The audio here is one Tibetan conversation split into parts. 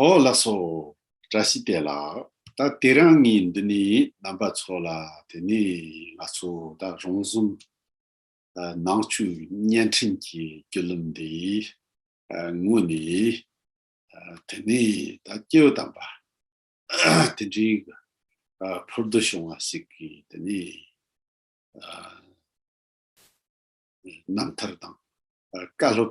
ཨོ་ལགས་སོ། བཀྲ་ཤིས་བདེ་ལགས། ད་དེ་རང་ངས་འདི་ནས་རྣམ་པ་ཚོ་ལ་དེ་ནས་ང་ཚོ་ད་རང་གསུམ་ནང་ཆོས་བརྙན་འཕྲིན་གྱི་བརྒྱུད་ལམ་འདི་དངོས་ནས་དེ་ནས་ད་སྐྱེ་བོ་དམ་པ་དེ་འདྲའི་ཕུར་བསྡུ་བྱུང་བ་ཞིག་གི་དེ་ནས་རྣམ་ཐར་དང་བཀའ་སློབ་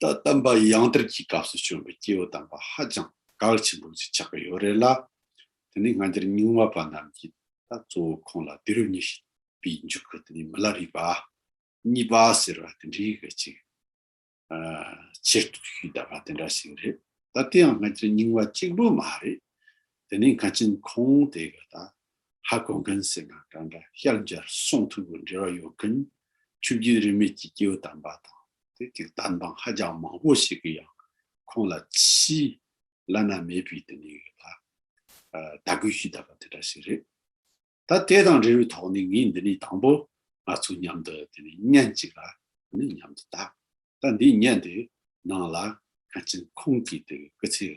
ད་ལྟ་བར་ཡང་དེར་གྱི་སྐབས་སུ་བྱོན་པའི་སྐྱེ་བོ་དམ་པ་ཧ་ཅང་གལ་ཆེན་པོ་ཞིག་ཆགས་ཀྱི་ཡོད་རེད་ལ། དེ་ནི་སྔ་འགྱུར་རྙིང་བ་པ་རྣམས་ཀྱིས་ད་གཙོ་བོ་ཁོང་ལ་དུས་རབས་ཉི་ཤུ་པའི་མཇུག་གི་དེ་ནི་མི་ལ་རིས་པ། གཉིས་པ་ཟེར་བ་དེ་འདྲའི་གལ་ཆེ་གི། ཆེར་གཏུགས་ཤུལ་བསྟབས་པ་དེ་འདྲ་ཞིག་རེད། ད་དེའང་སྔ་འགྱུར་རྙིང་བ་གཅིག་པུ་མ་རེད། དེ་ནས་མཁའ་ཆེན་ཁོང་དེ་ག་ད་ཧ་གོ་མཁན་ཟེར་ན་གང་འདྲ་ཤར་རྒྱར་སོང་ཐུག་གི་འབྲེལ་བ་ཡོད་མཁན་ཆུ་རྒྱུན་རིས་མེད་ཀྱི་སྐྱེ་བོ་དམ་པ་དང་དེ་དུས་གཏམ་དཔང་ཧ་ཅང་མང་པོ་ཞིག་གིས་ཡང་ཁོང་ལ་ཕྱིའི་བླ་ན་མེད་པའི་དེ་ནས་ག་ད་དད་གུས་ཞུས་གདའ་པ་དེ་འདྲ་ཞིག་རེད། ད་དེ་དང་འབྲེལ་བའི་ཐོག་ནས་ངས་འདི་ནས་དང་པོ་ང་ཚོ་མཉམ་དུ་དེ་ནས་བརྙན་གཅིག་ལ་དེ་ནས་མཉམ་དུ་བལྟ། ད་འདིའི་བརྙན་དེ་ནང་ལ་མཁའ་ཆེན་ཁོང་གི་དེ་གི་སྐུ་ཚེའི་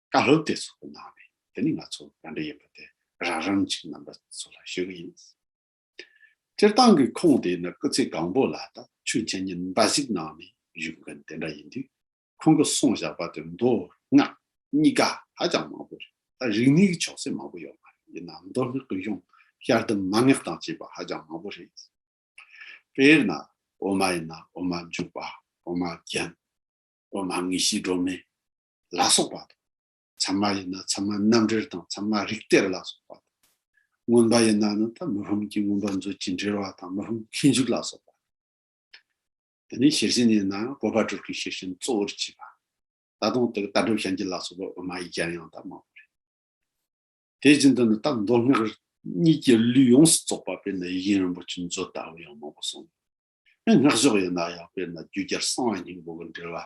བཀའ་སློབ་དེ་ཚོ་གནང་བ་ཡིན་དེ་ནི་ང་ཚོ་ག་འདྲ་ཡིན་པ་དེ་རང་རང་གི་རྣམ་པ་ཚོ་ལ་ཤོད་ཀྱི་ཡིན། སྤྱིར་བཏང་གི་ཁོངས་དེ་ནི་སྐུ་ཚེ་གང་པོ་ལ་ད་ཆོས་མཁྱེན་ཉིན་འབའ་ཞིག་གནང་ནས་བཞུགས་མཁན་དེ་འདྲ་ཡིན་དུས་ཁོང་གི་གསུང་བཞག་པ་དེ་མདོ་སྔགས་གཉིས་ཀ་ཧ་ཅང་མང་པོ་རེད་ད་རིག་གནས་ཀྱི་ཆོག་སེར་མང་པོ་ཡོད་མ་རེད་ཡིན་ནའང་མདོ་སྔགས་ཀྱི་གཞུང་ཤར་དུ་མ་སྔགས་དང་བཅས་པ་ཧ་ཅང་མང་པོ་རེད། དཔེར་ན་འོ་མ་ཡིན་ན་འོ་མ་འཇུག་པ་འོ་མ་རྒྱན་འོ་མ་དངོས་གཞིའི་སྒྲོན་མེ་ལ་སོགས་པ་དང། ཚད་མ་ཡིན་ན་ཚད་མ་རྣམ་འགྲེལ་དང་ཚད་མ་རིགས་གཏེར་ལ་སོགས་པ་དང། མངོན་པ་ཡིན་ན་ནི་མི་ཕམ་གྱི་མངོན་པར་མཛོད་ཅིག་འགྲེལ་བ་དང་མི་ཕམ་ཁྱད་འཇུག་ལ་སོགས་པ་དང། དེ་ནས་ཤེར་ཕྱིན་ཡིན་ན་བོད་པ་གྲུབ་ཀྱི་ཤེར་ཕྱིན་གཙོ་བོར་བྱས་པ། ད་དུང་ལྟ་གྲུབ་ཞལ་གྱི་ལ་སོགས་པའི་དབུ་མ་ཡིག་བརྒྱ་ཡང་དག་མང་པོ་རེད། དེ་བཞིན་དུ་ནི་རྟ་མདོ་སྔགས་གཉིས་ཀྱི་ལུས་ཡོངས་སུ་རྫོགས་པ་དཔེར་ན་ཡིག་རྒྱན་རིན་པོ་ཆེ་མཛོད་ལྟ་བུ་ཡང་མང་པོ་གསུངས། སྔགས་ཕྱོགས་ཡིན་ན་ཡང་དཔེར་ན་རྒྱུད་རྒྱལ་གསང་བ་སྙིང་པོ་གི་འགྲེལ་བ།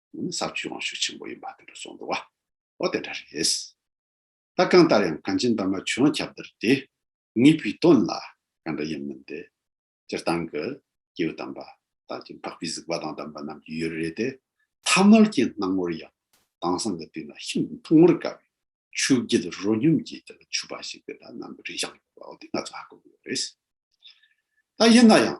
ས་བཅུའི་དབང་ཕྱུག་ཆེན་པོ་ཡིན་པ་དེ་འདྲ་སོགས་འདུག་བ་དེ་འདྲ་རེད། ལྟ་གང་ལྟར་ཡང་གངས་ཅན་འདབ་མ་བྱོན་ཁྱབ་བདར་དེ་ངེས་པའི་དོན་ལ་ག་འདྲ་ཡིན་མིན་དེ་སྤྱིར་བཏང་གི་སྐྱེས་བུ་དམ་པ་དག་གིས་འཕགས་པའི་གཟིགས་པ་དང་ལྡན་པ་རྣམས་ཀྱི་ཡུལ་རེད་དེ། ཐ་མལ་གྱི་སྣང་ངོར་ཡང་དྭངས་སང་གི་དུས་ན་ཤིན་ཏུ་མཐོང་བར་དཀའ་བའི་ཆུ་རྒྱུད་རོ་སྙོམས་ཀྱིས་དེ་ལ་ཆུ་བ་ཞིག་དེ་འདྲ་ནམ་རིང་བཞག་ཡོད་པའོ་དེ་ང་ཚོས་ཧ་གོ་དགོས་པ་རེད། ད་ཡིན་ན་ཡང།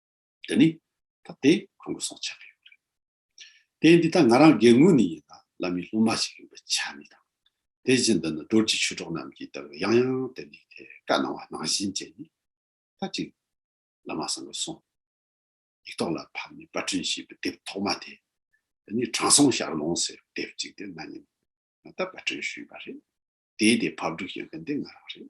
དེ་ནི་ད་ལྟའི་ཁོང་གི་སྲོག་ཆགས་ཀྱི་ཡོད་རེད། དེ་འདི་ལྟ་ང་རང་རྒན་ངོས་ནས་ཡིན་ན་བླ་མའི་སློབ་མ་ཞིག་ཡིན་པའི་ཆ་ནས་དང། དེ་བཞིན་དུ་ནི་སྒྲོལ་གྱི་ཆོས་གྲོགས་རྣམས་ཀྱིས་ལྟ་བུའི་ཡང་ཡང་དེ་ནས་དེ་བཀའ་གནང་བ་ནང་བཞིན་བྱས་ནས་ད་ཅིག་བླ་མ་སང་གི་སོང། ཡིག་ཐོག་ལ་ཕབ་ནས་པར་སྐྲུན་བྱས་པའི་དེབ་ཐོག་མ་དེ་དེ་ནི་དྲང་སྲོང་ཞག་ལོང་ཟེར་བའི་དེབ་ཅིག་དེ་ན་ནིང་ང་ལྟར་པར་སྐྲུན་ཞུས་པ་རེད། དེའི་དེ་ཕབ་སྒྲིག་བྱེད་མཁན་དེ་ང་རང་རེད།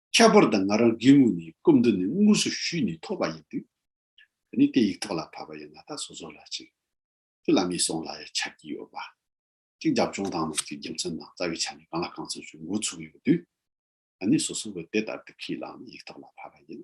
ཁྱད་པར་དུ་ང་རང་དགེ་བསྔོ་ནི་སྐབས་འདི་ནས་དངོས་སུ་ཞུས་ནས་ཐོབ་པ་ཡིན་དུས། ད་ནི་དེ་ཡིག་ཐོག་ལ་ཕབ་པ་ཡང་ང་ད་སོ་སོ་ལ་ཅིག། ཁྱོད་ལ་མི་སོང་ལ་ཡང་ཆགས་ཀྱི་ཡོད་པ། ཅིག་རྒྱབ་ལྗོངས་དང་ནང་གི་རྒྱུ་མཚན་དང་རྩ་བའི་ཆ་ནས་གང་ལ་གང་འཚམ་ཞུ་འགོ་ཚུགས་ཡོད་དུས། ད་ནི་སོ་སོ་བས་དེ་ལྟར་དུ་ཁས་བླངས་ནས་ཡིག་ཐོག་ལ་ཕབ་པ་ཡིན།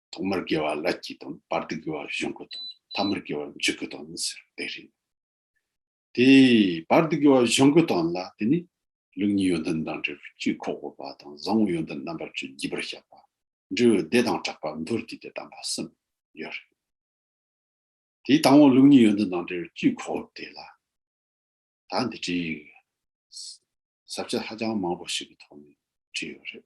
ཐོག་མར་དགེ་བ་ལ་སྐྱིད་དང་བར་དུ་དགེ་བ་གཞུང་གི་དང་ཐ་མར་དགེ་བ་མཇུག་གི་དང་ནི་ཟེར་དེ་རེད། དེ་བར་དུ་དགེ་བ་གཞུང་གི་དང་ལ་དེ་ནི་ལུགས་གཉིས་ཡོན་ཏན་དང་འབྲས་བུ་གཅིག་ཁོག་པོ་པ་དང་བཟང་བོ་ཡོན་ཏན་རྣམ་པ་བཅུ་བགྱིས་པར་བཤད་པ་འབྲས་བུ་བདེ་དང་གྲགས་པ་མདོར་བསྡུས་ཏེ་དམ་པ་གསུམ་ཡོད་རེད། དེའི་དང་བོ་ལུགས་གཉིས་ཡོན་ཏན་དང་འབྲས་བུ་གཅིག་ཁོག་པོ་དེ་ལ་ད་འདི་བྲིས་ཡོད། ཟབ་ཆ་ཧ་ཅང་མང་པོ་ཞིག་གི་ཐོག་ནས་བྲིས་ཡོད་རེད།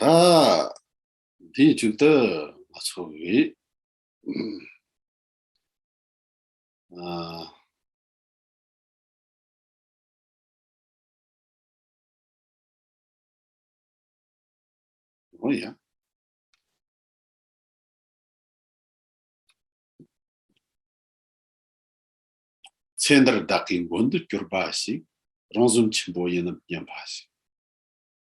ད་དེའི་མཇུག་ཏུ་ང་ཚོ་བས་ཨ་ཨོ་ཡ་ཚེ་འདིར་བདག་གི་མགོན་དུ་གྱུར་པ་ཞིག་རང་གཟུགས་ཆེན་པོ་ཡིན་ནམ་སྙམ་པ་ཞིག་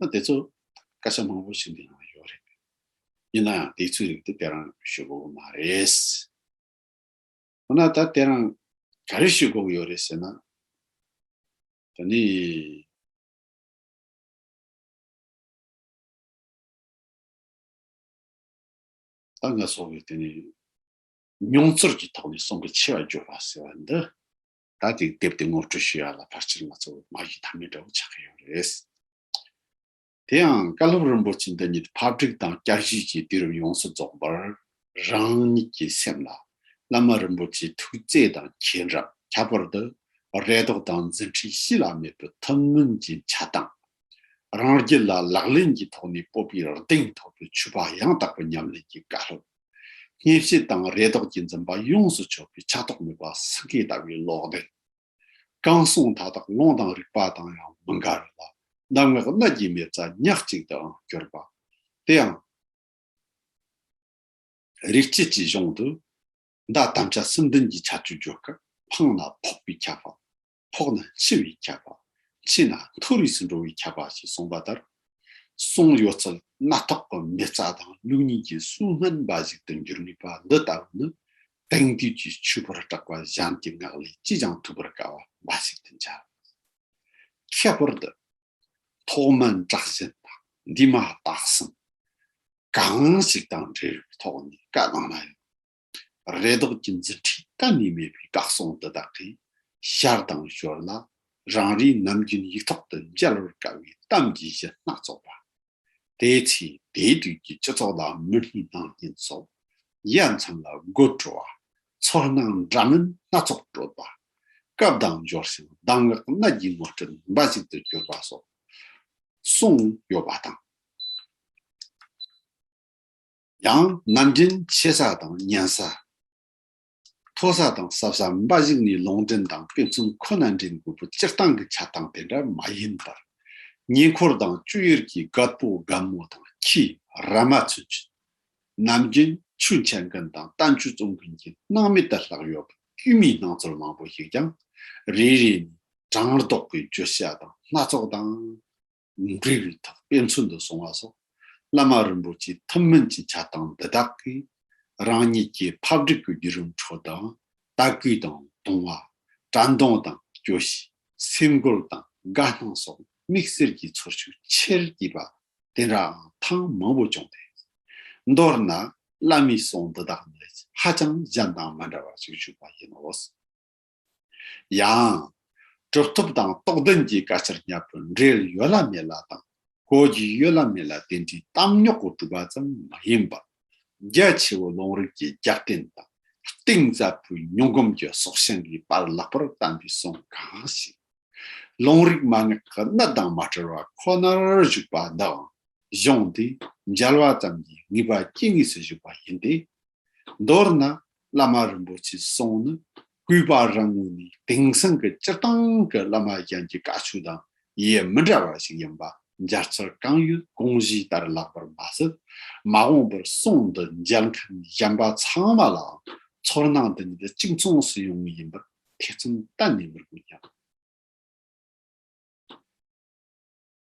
ན་དེ་ཚོ་སྐད་ཆ་མང་པོ་ཞིག་འདི་ནང་ཡོད་རེད། ཡིན་ནའང་དེ་ཚོའི་རིགས་དེ་དཔེ་རང་ཞུ་དགོས་པོ་མ་རེད། འོ་ན་ད་དཔེ་རང་ག་རེ་ཞུ་དགོས་པོ་ཡོད་རེད་ཟེར་ན། ད་ནི། ད་ང་ཚོ་གི་དེ་ནི་མྱོང་ཚོར་གྱི་ཐོག་ནས་གསུང་གི་ཆེ་བ་རྒྱོབ་པ་ཟེར་བ་འདི། ད་དེ་བསྡེབས་ཏེ་ངོ་སྤྲོད་ཞུ་ཡག་ལ་ཕར་ཆེར་ང་ཚོ་འོག་མ་ཡི་དམ་མེད་འདྲ་བོ་ཆགས་ཀྱི་ཡོད་རེད། དེ་ཡང་བཀའ་སློབ་རིན་པོ་ཆེ་འདི་ཉིད་ཕབ་སྒྲིག་དང་བསྐྱར་ཞིབ་ཀྱིས་དུས་རབས་ཡོངས་སུ་རྫོགས་པར་རང་ཉིད་ཀྱི་སེམས་ལ་བླ་མ་རིན་པོ་ཆེའི་ཐུགས་བརྩེ་དང་མཁྱེན་རབ་ཁྱད་པར་དུ་རེ་དོགས་དང་འཛིན་ཁྲིད་གཤིས་ལ་མེད་པའི་ཐུགས་སྨོན་གྱི་བྱ་བཏང་རང་རྒྱུད་ལ་ལག་ལེན་གྱི་ཐོག་ནས་སྤོབས་པའི་གདེང་ཐོབ་པའི་ཆུ་བ་ཡང་དག་པའི་ཉམས་ལེན་གྱི་བཀའ་སློབ། གཉེན་བཤེས་དང་རེ་དོགས་ཀྱི་འཛིན་པ་ཡོངས་སུ་ཆོད་པའི་ཆགས་རྟོགས་མེད་པ་སེང་གེ་ལྟ་བུའི་ལོག་འདྲེན། རྐང་སོང་མཐའ་དག་རླུང་དང་རིག་པ་དང་ཡང་མི་འགལ་བས་ལ་གདམས་ངག་སྣ་བརྒྱའི་མེ་བཙའ་ཉག་གཅིག་ཏུའང་གྱུར་པ། དེའང། རིག་བྱེད་ཀྱི་གཞུང་དུ། མདའ་དམ་བཅའ་སྲི་འདོན་གྱི་ཆ་བཅུ་བརྗོད་སྐབས་འཕང་ལ་ཕོག་པའི་ཁྱབ་བམ། ཕོག་ན་འཆི་བའི་ཁྱད་པར། འཆི་ན་མཐོ་རིས་སུ་འགྲོ་བའི་ཁྱད་པར་ཞེས་གསུངས་པ་ལྟར། གསུང་གཡོ་རྩལ་སྣ་ཐོག་གི་མི་རྩ་དང་ལུགས་གཉིས་ཀྱི་གསུང་སྨན་འབའ་ཞིག་ཏུ་འགྱུར་ནུས་པ་འདི་ལྟ་བུ་ནི་དེང་དུས་ཀྱི་ཆོས་པར་གྲགས་པ་གཞན་གྱི་ངག་ལས་ཅིས་ཀྱང་ཐུབ་པར་དཀའ་བ་འབའ་ཞིག་ཏུ་འཇལ། ཁྱད་པར་དུ། ཐོག་མའི་བསྒྲགས་གཞན་དང་འདི་མ་བརྟགས་ཟིན། གང་ཞིག་དང་འབྲེལ་བའི་ཐོག་ནས་བཀའ་གནང་ན་ཡང། རེ་དོགས་ཀྱི་མཛུབ་ཁྲིད་གཏན་ནས་མེད་པའི་དགའ་སོང་འདི་དག་གིས་ཤར་དང་ཞོར་ལ་རང་རེའི་ནམ་རྒྱུན་ཡིག་ཐོག་ཏུ་མཇལ་བར་དཀའ་བའི་གཏམ་གྱི་གཞི་སྣ་ཚོགས་པ། དེའི་ཚེ་དེའི་དུས་ཀྱི་སྤྱི་ཚོགས་ལ་མི་སྣའི་སྣང་བརྙན་སོགས་དབྱེ་མཚམས་ལ་དགོད་བྲོ་བ། ཚོར་སྣང་འདྲ་མིན་སྣ་ཚོགས་སྤྲོད་པ། སྐབས་དང་འབྱོར་ཞིང་གདམས་ངག་སྣ་བརྒྱའི་ངོ་སྤྲོད་འབའ་ཞིག་ཏུ་གྱུར་པ་སོགས་གསུངས་ཡོད་པ་དང། ཡང་རྣམ་འདྲེན་ཆེ་ས་དང་གཉན་ས། མཐོ་ས་དང་སྲབ་ས་འབའ་ཞིག་ནི་ལུང་འདྲེན་དང་དཔེ་མཚོན་ཁོ་ན་འདྲེན་དགོས་པོ་སྤྱིར་བཏང་གི་ཆ་དང་དེ་འདྲ་མ་ཡིན་པར། ཉེ་འཁོར་དང་སྤྱོད་ཡུལ་གྱི་སྒ་སྤོ་སྒ་མོ་དང་ཁྱི་ར་མ་ཚུན་གྱི། རྣམ་འདྲེན་ཆུ་འཁྱལ་མཁན་དང་རྟ་མཆུ་བཙོང་མཁན་གྱི་སྣང་མེད་དུ་ལྷག་ཡོད་པ་དཀྱུས་མའི་སྣང་ཚུལ་མང་པོ་ཞིག་ཀྱང་རེ་རེ་ནས་བགྲང་ལྡོག་གི་བརྗོད་བྱ་དང་སྣ་ཚོགས་དང། འབྲས་བུའི་ཐག་དཔེ་མཚོན་དུ་སོང་བ་སོགས་བླ་མ་རིན་པོ་ཆེའི་ཐུན་མིན་གྱི་བྱ་བཏང་འདི་དག་གིས་རང་ཉིད་ཀྱི་ཕབ་སྒྲིག་གི་བརྒྱུད་རིམ་ཁྲོད་དུ་ལྟ་སྐུལ་དང་ལྟུང་བ། དྲན་གདུང་དང་སྐྱོ་ཤས། སེམས་འགུལ་དང་དགའ་སྣང་སོགས་དམིགས་བསལ་གྱི་ཚོར་ཤུགས་ཆེར་བསྐྱེད་པ་དེ་འདྲའང་ཐེངས་མང་པོ་བྱུང་སྟེ། མདོར་ན་བླ་མའི་གསུང་འདི་དག་ནི་ཧ་ཅང་གཞན་དང་མི་འདྲ་བ་ཞིག་བཞུགས་པ་ཡིན་ནོ། ཡང། གྲུབ་ཐོབ་དང་རྟོགས་ལྡན་གྱི་དགག་བྱར་གཉའ་པོ་འབྲེལ་ཡོད་ལ་མེད་ལ་དང་གོ་རྒྱུ་ཡོད་ལ་མེད་ལ་དེ་འདྲའི་གཏམ་རྙོག་གི་གྲུབ་པ་ཙམ་མ་ཡིན་པར། རྒྱ་ཆེ་བོ་ལུང་རིགས་ཀྱི་རྒྱབ་རྟེན་དང་གཏིང་ཟབ་པོའི་མྱོང་གོམས་ཀྱི་སྲོག་ཤིང་གི་པར་ལག་པར་བལྟམས་པའི་གསུང་གང་ཞིག། ལུང་རིགས་མ་ངེས་ཀྱི་གནད་དང་མ་བྲལ་བ་ཁོ་ནར་བཞུགས་པ་འདིའང་གཞུང་འདིས་མཇལ་བ་ཙམ་གྱིས་ངེས་པ་སྐྱེ་ངེས་སུ་བཞུགས་པ་ཡིན་ཏེ། མདོར་ན་བླ་མ་རིན་པོ་ཆེ་སོགས་ནི་སྐུའི་བ་རང་ངོས་ནས་དེང་སང་གི་སྤྱིར་བཏང་གི་བླ་མ་གཞན་གྱི་བཀའ་ཆོས་དང་ཡེ་མི་འདྲ་བ་ཞིག་ཡིན་པ་འཇར་ཚར་རྐང་ཡུལ་དགོངས་བཞེས་ལྟར་ལགས་པར་མ་ཟད། མ་འོངས་པར་གསུང་འདི་མཇལ་མཁན་གཞན་པ་ཚང་མ་ལའང་ཚོར་སྣང་འདི་ཉིད་གཅིག་མཚུངས་སུ་ཡོང་ངེས་ཡིན་པར་ཐེ་ཚོམ་གཏན་ནས་མི་དགོས་སྙམ།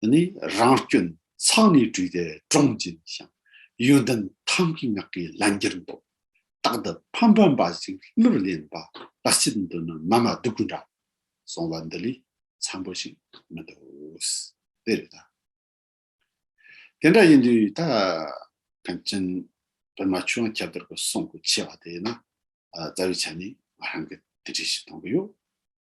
འདི་ནི་རང་སྐྱོན་ཚང་ནས་བྲུས་ཏེ་དྲུངས་ཅན་ཞིང། ཡོན་ཏན་ཐམས་ཀྱི་ངག་གིས་ལན་བརྒྱར་འདོགས། རྟག་ཏུ་ཕམ་པ་འབའ་ཞིག་གླུར་བརླན་པ། ལ་སྤྱིད་འདི་ནི་མ་མ་སྡུག་གུ་འདྲ། གསུང་བ་འདི་ལས་འཚམ་པོ་ཞིག་མི་འདུག། དེ་རེད་ད། དེ་འདྲ་ཡིན་དུས་ད། ཕན་ཚུན་བོད་མ་ཆོས་དབྱངས་ཁྱབ་བདར་གྱི་གསུང་གི་ཆེ་བ་དེ་ན། རྩ་བའི་ཆ་ནས་ང་རང་གིས་དེ་འདྲས་ཞིག་གཏོང་གི་ཡོད།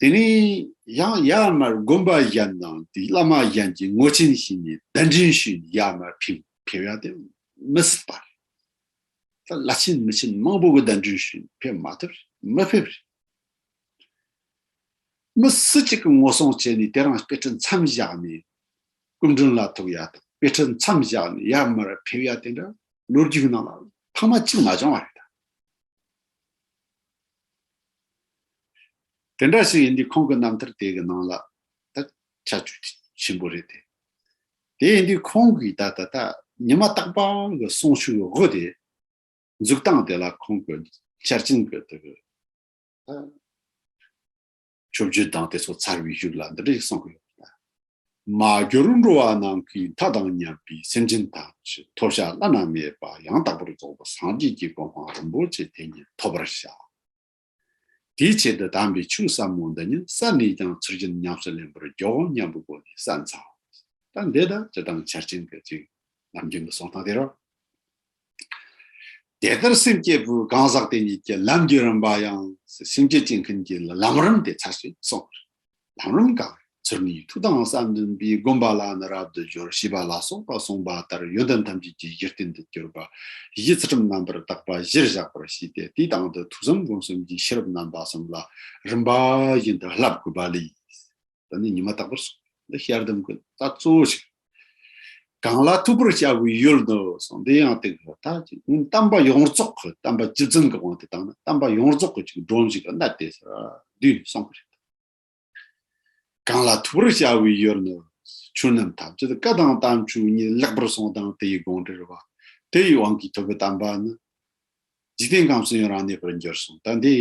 དེ་ནས་ཡང་ཡར་མར་དགོན་པ་གཞན་དང་དེའི་བླ་མ་གཞན་གྱི་ངོ་ཆེན་བྱས་ནས་གདན་འདྲེན་ཞུས་ནས་ཡར་མར་ཕེབས་ཡ་དེ་མི་སྲིད་པར། ད་བླ་ཆེན་མི་ཆེན་མང་པོ་གི་གདན་འདྲེན་ཞུས་ནས་ཕེབས་མ་ཐུབ་མི་ཕེབས་རེད། མི་སྲིད་ཅིག་གི་ངོ་སྲུང་བྱས་ནས་དེ་རང་དཔེ་ཁྲིད་མཚམས་བཞག་ནས་སྐུ་མགྲོན་ལ་ཐུག་ཡ་དང་དཔེ་ཁྲིད་མཚམས་བཞག་ནས་ཡར་མར་ཕེབས་ཡ་དེ་འདྲ་ལོ་རྒྱུས་ནང་ལ་ཕ་མ་གཅིག་མ་བྱུང་བ་རེད། དེ་འདྲ་ཞིག་ཡིན་དུས་ཁོང་གི་རྣམ་ཐར་དེ་གི་ནང་ལ་ད་ཆ་བཅུ་གཅིག་ཆེན་པོ་རེད་དེ། དེ་ཡིན་དུས་ཁོང་གིས་ད་ད་ལྟ་ཉི་མ་རྟག་པ་གི་གསུང་ཤུགས་དབུ་དེ་འཛུགས་སྟངས་དེ་ལ་ཁོང་གི་འཆར་ཅན་གི་དེ་གི་ད། ཆོས་བརྒྱུད་བདག་དེ་ཚོ་ཚར་བའི་རྒྱུགས་ལ་འདི་འདྲ་ཞིག་གསུང་གི་ཡོད་པ་རེད། མ་གྱུར་འགྲོ་བ་རྣམས་ཀྱི་མཐའ་དང་མཉམ་པའི་སེམས་ཅན་དག་གི་ཐོབ་བྱ་བླ་ན་མེད་པ་ཡང་དག་པར་རྫོགས་པ་སངས་རྒྱས་ཀྱི་གོ་འཕང་རིན་པོ་ཆེ་དེ་ཉིད་ཐོབ་པར་བྱ། དེའི་ཆེད་དུ་དམ་པའི་ཆོས་ཟབ་མོ་འདི་ཉིད་བསམ་ནས་ཀྱང་ཚུར་ཅི་ཉམས་སུ་ལེན་པར་འགྱུར་འོང་སྙམ་པའི་སྒོ་ནས་བསམ་ཚར་བ་རེད། ད་འདི་དག་སྤྱི་དང་ཆར་ཅན་གྱི་ཅིག་ལམ་རྒྱུན་དུ་སོང་སྟངས་དེ་རོ། དེ་ལྟར་སེམས་བསྐྱེད་པོའི་གང་ཟག་དེ་ཉིད་ཀྱི་ལམ་བརྒྱུད་རིམ་པ་ཡང་སེམས་བསྐྱེད་བསྐྱེད་མཁན་གྱི་ལམ་རིམ་དེ་ཚར་ཞེས་གསུངས། ལམ་རིམ་གང་ཡིན་ཚུལ་ནི་ཐུགས་དམ་བསམ་འདུན་པས་བསྒོམ་པ་ལ་ནི་རབ་ཏུ་སྦྱོར་ཞེས་པ་ལ་སོགས་པ་གསུངས་པ་ལྟར་ཡོན་ཏན་ཐམས་ཅད་ཀྱི་གཞི་རྟེན་དུ་གྱུར་པ་གཞི་ཚུལ་ཁྲིམས་རྣམ་པར་དག་པ་གཞིར་བཞག་པར་བྱས་ཏེ་དེའི་སྟེང་དུ་ཐུགས་བསམ་སྒོམ་གསུམ་གྱི་ཤེས་རབ་རྣམ་པ་གསུམ་ལ་རིམ་པ་བཞིན་དུ་བསླབ་དགོས་པ་ལས། ད་ནི་ཉི་མ་དག་པར་སོང་འདི་ཞལ་གདམས་ཀྱི་རྟགས་གཙོ་བོ་ཞིག་རེད་གང་ལ་ཐུག་པར་བྱ་དགོས་ཡོད་དོ་སོང་འདི་ཡང་དེ་གི་ད་ཅིག་ཡིན་གཏམ་པ་ཡོངས་རྫོགས་ཀྱི་གཏམ་པ་སྤྱི་བཙན་གྱི་དབང་དེ་དང་ན་གཏམ་པ་ཡོངས་རྫོགས་ཀྱི་ཅིག་སྒྲོམ་ཞིག་གི་ན་དེ་ས་དུས་ནས་སོང་གི་རེད་དོ་གང་ལ་ཐུག་པར་བྱ་དགོས་ཡོད་ནི་ཆོས་རྣམས་ཐམས་ཅད་བཀའ་དང་གཏམ་ཆོས་ཉིད་ལེགས་པར་སོང་དང་དེ་ཡི་དགོངས་འགྲེལ་བ་དེ་ཡི་དབང་གིས་ཐོབ་པའི་གཏམ་པ་ནི་འཇིག་རྟེན་ཁམས་སུ་ཡང་རང་གནས་པར་འགྱུར་གསུངས་ད་འདི་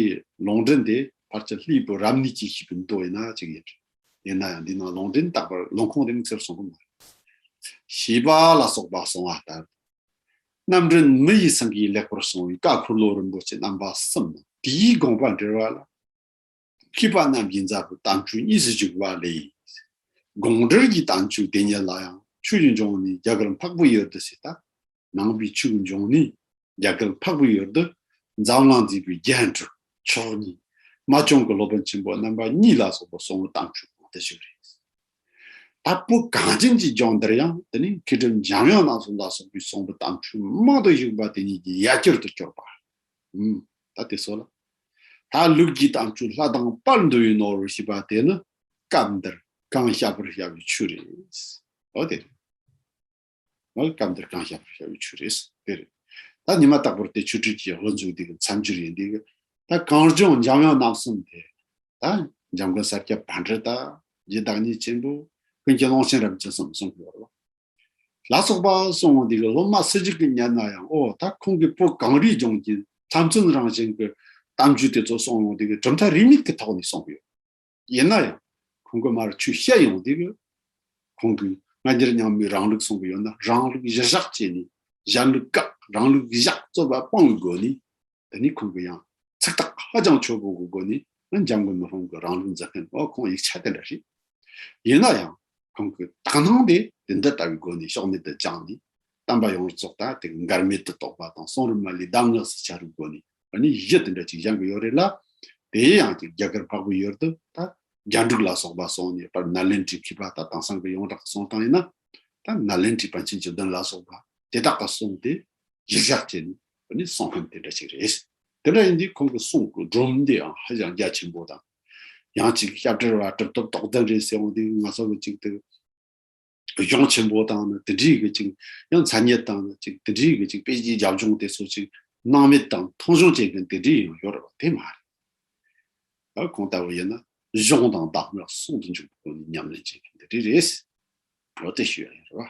ལོང་འདྲེན་དེ་ཕར་ཆ་ལྷའི་བུ་རབ་གནས་ཀྱིས་ཤིག་གི་མདོ་ཡིན་ན་ཅིག་ཡིན་རེད་ཡིན་ན་ཡང་འདི་ནང་ལོང་འདྲེན་རྟག་པར་ལོང་ཁོང་རིང་ཚེར་གསུངས་པ་མ་རེད། ཞེས་པ་ལ་སོགས་པ་གསུང་བ་ལྟར་དུ། རྣམ་འདྲེན་མི་ཡི་ཚང་གིས་ལེགས་པར་གསུངས་བའི་བཀའ་འཁོར་ལོ་རིན་པོ་ཆེ་རྣམ་པ་གསུམ་མོ་དེའི་དགོངས་པ་འགྲེལ་བ་ལ། མཁས་པ་རྣམས་ཀྱི་མཛའ་བོ་དམ་ཆོས་གཉིས་སུ་བཅུག་པ་ལས། དགོངས་འགྲེལ་གྱི་དམ་ཆོས་དེ་ཉིད་ལ་ཡང་ཆོས་ཀྱི་འབྱུང་གནས་རྒྱ་གར་འཕགས་པོ་ཡོད་དོ་ཞེས་དང། ནང་པའི་ཆོས་ཀྱི་འབྱུང་གནས་རྒྱ་གར་འཕགས་པོ་ཡོད་དོ། འཛམ་གླིང་འཛིན་པའི་རྒྱན་དྲུག་མཆོག་གཉིས། མ་བྱུང་གི་སློབ་དཔོན་ཆེན་པོ་རྣམ་པ་གཉིས་ལ་སོགས་པ་གསུང་དམ་ཆོས་གོང་དུ་བཞུགས་རེ། ད་པོ་གངས་ཅན་གྱི་ལྗོངས་འདིར་ཡང་དེ་ནས་མཁས་གྲུབ་འཇམ་དབྱངས་རྣམ་གསུམ་ལ་སོགས་པའི་གསུང་དུ་དམ་ཆོས་མང་དུ་བཞུགས་པ་དེ་ཉིད་ཀྱི་ཡ་གྱུར་དུ་གྱུར་པ། ཧཱུྃ། ད་དེ་སོགས་ལ། ད་ལུགས་ཀྱི་དྭངས་བཅུད་ལྷ་དང་དཔལ་འདུ་བའི་ནོར་ཞེས་པ་དེ་ནི་སྐབས་འདིར་གང་བཤགས་པར་བྱ་བའི་ཆོས་རེད། ཨོ་དེ་རེད། ཨོ་སྐབས་འདིར་གང་བཤགས་པར་བྱ་བའི་ཆོས་རེད། དེ་རེད། ད་ཉི་མ་རྟག་པར་དེ་ཆོས་ཁྲིད་ཀྱི་དབུ་འཛུགས་འདི་གི་མཚམས་སྦྱོར་ཡིན་འདི་གི། ད་གངས་ལྗོངས་འཇམ་དབྱངས་རྣམ་གསུམ་དེ། ད་འཇམ་མགོན་ས་སྐྱ་བྷ་འདྲེ་ད་རྗེ་བདག་ཉིད་ཆེན་པོ། ཀུན་གྱི་ཀློང་ཆེན་རབ་འབྱམས་གསུམ་གསུང་གི་བར་ལ། ལ་སོགས་པ་གསུང་ངོ་འདི་གི་སློབ་མ་སུ་གཅིག་གིས་ཉན་ན་ཡང་ཨོ་ད་ཁོང་གིས་པོ་གངས་རིའི་ལྗོངས་ཀྱི་ལྷ་བཙུན་རང་བཞིན་གྱི་གཏམ་རྒྱུད་དེ་ཚོ་གསུང་ངོ་འདི་གི་གྲུབ་མཐའ་རིས་མེད་ཀྱི་ཐོག་ནས་གསུང་གི་ཡོད། ཡིན་ན་ཡང་ཁོང་གིས་མར་ཆུ་བཤད་ཡོང་འདི་གི་ཁོང་གིས་སྔ་འགྱུར་ཉམས་མེད་རང་ལུགས་གསུང་གི་ཡོད་ན་རང་ལུགས་གཞི་བཞག་བྱས་ནས་གཞན་ལུགས་བཀག་རང་ལུགས་གཞི་བཞག་རྩོད་པ་སྤང་བའི་སྒོ་ནས་འདི་ནི་ཁོང་གི་ཡང་ཚིག་ཐག་ཧ་ཅང་ཆོད་པོ་འགོད་དགོས་ནི་ནི་འཇམ་མགོན་མི་ཧོང་གི་རང་ལུགས་མཛད་མཁན་འོ་ཁོང་ཡིག་ཆ་དེ་འདྲ་ཞིག་ཡིན་ན་ཡང་ཁོང་གི་དག་སྣང་དེ་དེ་འདི་ལྟ་བུའི་སྒོ་ནས་ཕྱོགས་མེད་དུ་བཅངས་ནས་གཏམ་པ་ཡོངས་རྫོགས་ད་ལྟའི་འགར་མེད་དུ་གཏོགས་པ་དང་གསུང་རབ་མ་ལུས་གདམས་ངག་སྲིད་བྱ་རུའི་སྒོ་ནས་འོ་ནི་གཞི་དེ་འདྲ་ཅིག་བཞེངས་གི་ཡོད་རེད་ལ་དེའི་ཡང་གཅིག་རྒྱ་གར་འཕགས་བོད་ཡུལ་དུ་ད་རྒྱ་འབྲུག་ལ་སོགས་པ་སོང་ནས་པར་ནཱ་ལེན་ཏྲི་མཁས་པ་ད་དེང་སང་གི་ཡོངས་གྲགས་གསུང་སྟངས་ཡིན་ན་ད་ནཱ་ལེན་ཏྲི་པཎ་ཆེན་བཅུ་བདུན་ལ་སོགས་པ་དེ་དག་ག་སོང་སྟེ་གཞིར་བཞག་བྱས་ནས་འདི་ནི་གསང་ཁམས་དེ་འདྲ་ཞིག་རེད། དེ་འདྲ་ཡིན་དུས་ཁོང་གི་གསུང་གི་སྒྲོམ་འདི་ཡང་ཧ་ཅང་རྒྱ་ཆེན་པོ་དང། ཡང་ཅིག་སྐྱབས་བྲལ་བ་གྲུབ་ཐོབ་རྡོག་རྩ་འདྲེས་ཟེར་བ་འདི་ང་ཚོ་ལ་ཅིག་དེ་གཞུང་ཆེན་པོ་དང་ནི་དེ་འདྲིའི་གི་ཅིག་ཡང་ཚ་ཉེ་དང་ནི་ཅིག་དེ་འདྲིའི་གི་ཅིག་དཔེ་ཅིག་རྒྱབ་ལྗོངས་དེ་ཚོ་ཅིག་སྣང་མེད་དང་མཐོང་ཆུང་བྱེད་མཁན་དེ་འདྲིའི་ཡང་ཡོད་རེད་བ་དེ་མ་རེད། ཨ་ཁོང་ལྟ་བུ་ཡིན་ན་གཞུང་དང་བདག་མེད་གསུང་དུ་འཇུག་པའི་སྒོ་ནས་ཉམས་ལེན་བྱེད་མཁན་དེ་འདྲི་རེད། ལོ་དེ་ཤོས་ཡིན་རེད་བ།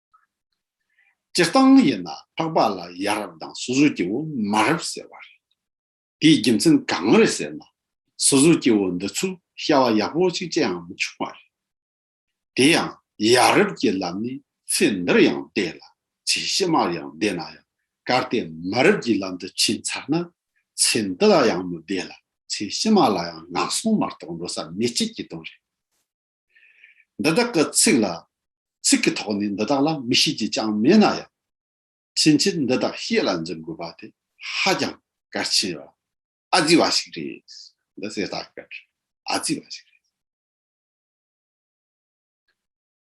སྤྱིར་བཏང་ཡིན་ན་འཕགས་པ་ལ་ཡ་རབས་དང་སོ་སོའི་སྐྱེ་བོ་མ་རབས་ཟེར་བ་རེད། དེའི་རྒྱུ་མཚན་གང་རེད་ཟེར་ན། སོ་སོའི་སྐྱེ་བོ་འདི་ཚོས་ཤ་བ་ཡག་པོ་ཅིག་ཅིའང་མི་ཆུང་བ་རེད། དེ་ཡང་ཡ་རབས་ཀྱི་ལམ་ནི་ཚེ་འདིར་ཡང་བདེ་ལ་ཚེ་ཕྱི་མར་ཡང་བདེ་ན་ཡང་གལ་ཏེ་མ་རབས་ཀྱི་ལམ་དུ་ཕྱིན་ཚར་ན་ཚེ་འདི་ལ་ཡང་མི་བདེ་ལ་ཚེ་ཕྱི་མ་ལ་ཡང་ནག་སོང་མ་གཏོགས་འགྲོ་ས་མེད་ཁྱེད་ཀྱི་དོན་རེད། འདི་དག་གི་ཚིག་ལ། ཚིག་གི་ཐོག་ནས་འདི་དག་ལ་མི་ཤེས་ཀྱི་ཅང་མེད་ན་ཡང། ཕྱིན་ཆད་འདི་དག་ཤེས་ལ་འཛིན་དགོས་པ་དེ་ཧ་ཅང་གལ་ཆེ་བ། ཨ་ཙི་བ་ཞིག་རེད། འདི་ཟས་ལྟ་གིར་ཨ་ཙི་བ་ཞིག་རེད།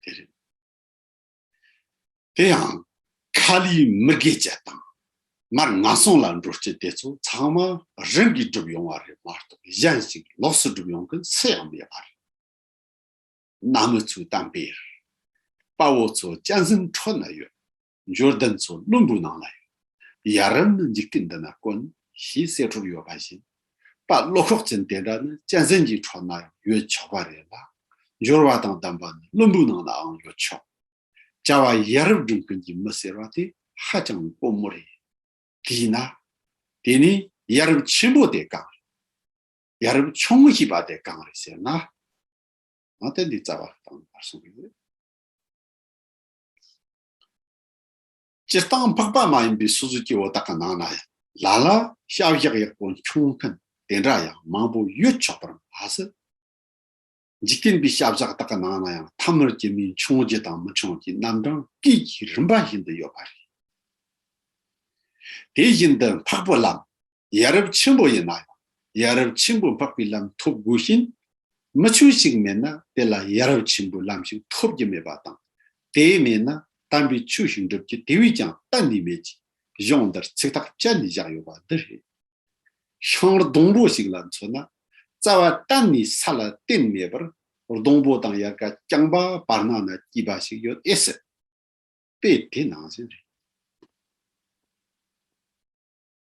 དེ་རེད། དེ་ཡང་ཁ་ལིའི་མི་དགེ་བཅས་དང། མར་ང་སོང་ལ་འགྲོ་སྐྱེ་དེ་ཚོ་ཚང་མ་རང་གིས་བསྒྲུབས་ཡོང་བ་རེད་མ་གཏོགས་གཞན་ཞིག་ལོགས་སུ་བསྒྲུབས་ཡོང་མཁན་སུ་ཡང་མེད་པ་རེད། གནའ་མི་ཚོའི་གཏམ་དཔེར། དཔའ་བོ་ཚོ་ལྕགས་འཛིན་འཕྲོ་ན་ཡོད། འབྱོར་ལྡན་ཚོ་བླུན་པོའི་ནང་ལ་ཡོད། ཡ་རབས་ནི་འཇིག་རྟེན་འདི་ན་དཀོན་ཞེས་གསེར་འཕྲོར་ཡོད་པ་བཞིན། པ་བློ་ཁོག་ཅན་དེ་འདྲ་ནི་གཅན་ཟན་གྱི་ཁྲོད་ན་ཡོད་ཆོག་པ་རེད་ལ། འབྱོར་བ་དང་ལྡན་པ་ནི་བློན་པོའི་ནང་ལའང་ཡོད་ཆོག། བྱ་བ་ཡ་རབས་སྒྲུབ་མཁན་གྱི་མི་ཟེར་བ་དེ་ཧ་ཅང་དཀོན་མོ་རེད། དེས་ན། དེ་ནི་ཡ་རབས་ཆེན་པོ་དེ་གང་རེད། ཡ་རབས་ཆུང་ཞེས་པ་དེ་གང་རེད་ཟེར་ན། ང་ལྟ་འདི་རྩ་བ་དང་བར་གསུམ་རེད། སྤྱིར་བཏང་འཕགས་པ་མ་ཡིན་པའི་སོ་སོའི་སྐྱེ་བོ་དག་གི་ནང་ན་ཡང་ལ་ལ་ཤ་བཞག་ཡག་པོ་འཁྱོངས་མཁན་དེ་འདྲ་ཡང་མང་པོ་ཡོད་ཆོག་པར་མ་ཟད། འཇིག་རྟེན་པའི་ཤ་བཞག་དག་གི་ནང་ན་ཡང་ཐ་མར་སྐྱེ་མིན་འཕྱོང་རྒྱུ་དང་མི་འཕྱོང་རྒྱུའི་རྣམ་གྲངས་སྐད་ཀྱི་རིམ་པ་བཞིན་དུ་ཡོད་པ་རེད། དེ་བཞིན་དུ་འཕགས་པོ་ལམ་ཡ་རབས་ཆེན་པོ་ཡིན་ན་ཡང་ཡ་རབས་ཆེན་པོ་འཕགས་པའི་ལམ་ཐོབ་དགོས་ཤིང། མི་ཆོས་ཤིག་མེད་ན་དེ་ལ་ཡ་རབས་ཆེན་པོའི་ལམ་ཞིག་ཐོབ་ཀྱི་མེད་པ་དང། དེ་མེད་ན་དམ་པའི་ཆོས་ཤིག་འགྲུབ་རྒྱུ་དེ་བས་ཀྱང་གཏན་ནས་མེད་ཅེས་གཞུང་འདིར་ཚིག་ཐག་བཅད་ནས་བཞག་ཡོད་པ་འདི་རེད། ཤིང་ལྡོང་པོ་ཞིག་ལ་མཚོན་ན། རྩ་བ་གཏན་ནས་ས་ལ་གཏིང་མེད་པར་ལྡོང་པོ་དང་ཡལ་ག་རྐྱང་པ་བར་སྣང་ན་སྐྱིད་པ་ཞིག་ཡོད་ཨེ་སྲིད། དཔེ་དེ་ནང་བཞིན་རེད།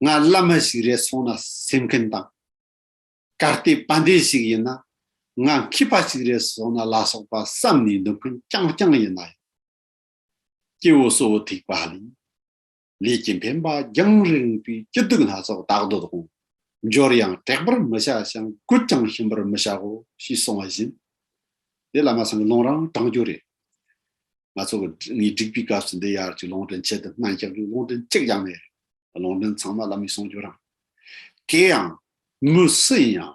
ང་བླ་མ་ཞིག་རེད་སོང་ན་སེམས་མཁན་དང། ག་སྟེ་དཔལ་ལྡན་ཞིག་ཡིན་ན་ང་མཁས་པ་ཞིག་རེད་སོང་ན་ལ་སོགས་པ་བསམ་ནས་འདུག་མཁན་རྐྱང་རྐྱང་ཡིན་ན་ཡང། སྐྱེ་བོ་གསོ་བོ་ཐེག་པ་ལས་ལས་ཀྱི་འཕེན་པ་རྒྱང་རིང་པོའི་སྐྱིད་སྡུག་སྣ་ཚོགས་བདག་འདོད་དང་འབྱོར་ཡང་དྲེགས་པར་མི་བྱ་ཞིང་རྒུད་ཀྱང་ཞིམ་པར་མི་བྱའོ་ཞེས་གསུང་བ་བཞིན། འདི་བླ་མ་སངས་ལུང་རང་དྲང་རྒྱུ་རེད། ང་ཚོ་ངའི་སྒྲིག་པའི་སྐབས་སུ་འདི་ཡར་གྱི་ལུང་དྲན་ཆེད་དུ་སྨན་རྒྱག་རྒྱུའི་ལུང་དྲན་གཅིག་ཀྱང་མེད་རེད། ལུང་འདྲེན་ཚང་མ་བླ་མའི་གསུང་སྦྱོར་རམ། དེ་ཡང། མི་སུ་ཡིན་ཡང།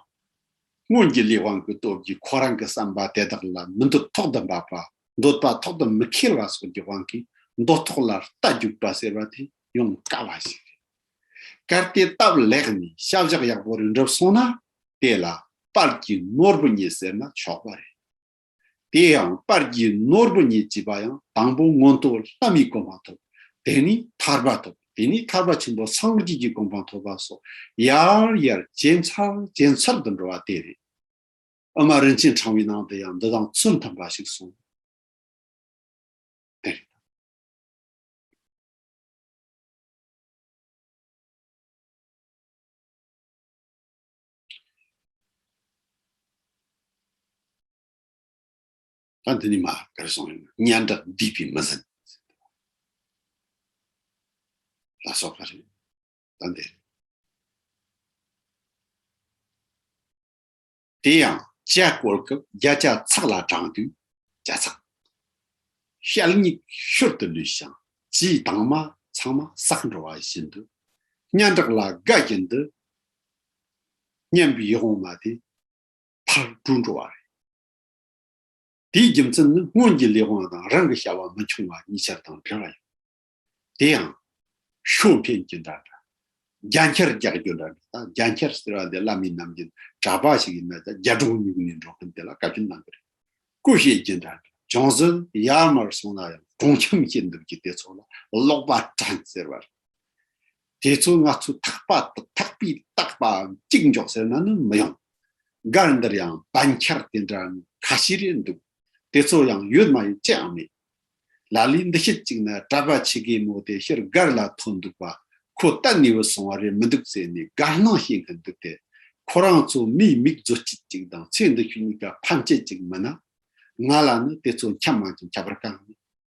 སྔོན་གྱི་ལས་དབང་གི་སྟོབས་ཀྱིས་ཁོ་རང་གི་བསམ་པ་དེ་དག་ལ་མི་འདོད་ཐོག་ཏུ་འབབ་པ། འདོད་པ་ཐོག་ཏུ་མི་ཁེལ་བ་སོགས་ཀྱི་དབང་གིས་འདོད་ཐོག་ལ་རྟ་རྒྱུག་པ་ཟེར་བ་དེ་ཡོང་དཀའ་བ་ཞིག་རེད། གལ་ཏེ་སྟབས་ལེགས་ནས་ཤ་བཞག་ཡག་པོ་རེ་འགྲུབ་སོང་ན་དེ་ལ་དཔལ་གྱི་ནོར་བུ་ཉིད་ཟེར་ན་ཆོག་པ་རེད། དེ་ཡང་དཔལ་གྱི་ནོར་བུ་ཉིད་བགྱིས་པ་ཡང་དང་པོ་མངོན་རྟོགས་ལྷ་མིའི་གོ་འཕང་ཐོབ། དེ་ནས་ཐར་པ་ཐོབ། དེ་ནས་ཐར་པ་ཆེན་པོ་སངས་རྒྱས་ཀྱི་གོ་འཕང་ཐོབ་པ་སོགས་ཡར་ཡར་ཇེ་མཚར་ཇེ་མཚར་དུ་འགྲོ་བ་དེ་རེད། ཨ་མ་རིན་ཆེན་འཕྲང་བའི་ནང་དུ་ཡང་འདི་དང་མཚུངས་མཐུན་པ་ཞིག་གསུངས། དེ་རེད། དེ་ནི་མ་གར་སོང་ཡང་སྙན་གྲགས་འདིས་པའི་མི་ཟིན། ལ་སོགས་པ་རེད། ད་འདི། དེ་ཡང་བྱ་བཀོལ་སྐབས་རྒྱ་བྱ་ཚག་ལ་དྲངས་དུས་བྱ་ཚག་ཤལ་སྙིག་ཤོར་དུ་ལུས་ཤིང་ཇིའི་དྭངས་མ་ཚང་མ་ཟགས་འགྲོ་བ་བཞིན་དུ་སྙན་གྲགས་ལ་དགའ་བཞིན་དུ་སྙམ་པའི་ཡིད་དབང་མ་དེ་ཕར་བཀྲུ་འགྲོ་བ་རེད། དེའི་རྒྱུ་མཚན་ནི་སྔོན་གྱི་ལས་དབང་དང་རང་གི་བྱ་བ་མི་འཆུང་བ་གཉིས་ཆར་དང་འབྲེལ་བ་ཡོད། དེ་ཡང། ཤོ་འཕེན་གྱི་འདྲ་འདྲ། རྒྱ་འཁྱེར་རྒྱག་རྒྱུ་འདྲ་འདྲ་དང་རྒྱ་འཁྱེར་ཟེར་བ་འདི་བླ་མའི་རྣམ་འགྱུར་གྲྭ་པ་ཞིག་ཡིན་ན་ཀྱང་རྒྱ་སྒྲོག་ཉུག་ནས་འགྲོ་མཁན་དེ་ལ་བཀའ་བཀྱོན་གནང་གི་རེད། སྐུ་གཤེགས་རྒྱུ་འདྲ་འདྲ། ཅུང་ཟད་ཡར་མར་སོང་ན་ཡང་གྲོང་ཁྱིམ་ཞིག་འདུག་གི་དེ་ཚོ་ལ་ཀློག་པ་གྲྭ་ཟེར་བ་རེད། དེ་ཚོ་ང་ཚོས་ཐག་པ་དང་ཐག་པས་བཏགས་པའམ་གཅིག་འཇོག་ཟེར་ན་ནི་མི་ཡོང། སྒར་འདིར་ཡང་བན་ཁྱར་དེ་འདྲ་ཁ་ཤས་རེད་འདུག་དེ་ཚོ་ཡང་ཡོད་མ་ཡོད་ཅི་ཡང་མེད། ལ་ལས་འདི་ཤེད་ཅིག་ན་གྲྭ་པ་ཆེ་གེ་མོ་དེ་ཕྱིར་སྒར་ལ་ཐོན་འདུག་པ་ཁོ་གཏན་ནས་བུད་སོང་བ་རེད་མི་འདུག་ཟེར་ནས་དགའ་སྣང་བྱེད་མཁན་འདུག་སྟེ། ཁོ་རང་ཚོ་མིའི་མིག་བཟོ་སྤྱད་ཅིག་དང་ཚེ་འདི་ཤུལ་གཉིས་ཀ་ཕམ་སྤྱད་ཅིག་མིན་ན། ང་ལ་ནི་དེ་ཚོ་འཁྱམ་མ་འཁྱམ་ཁྱབ་པར་དཀའ་ངེས།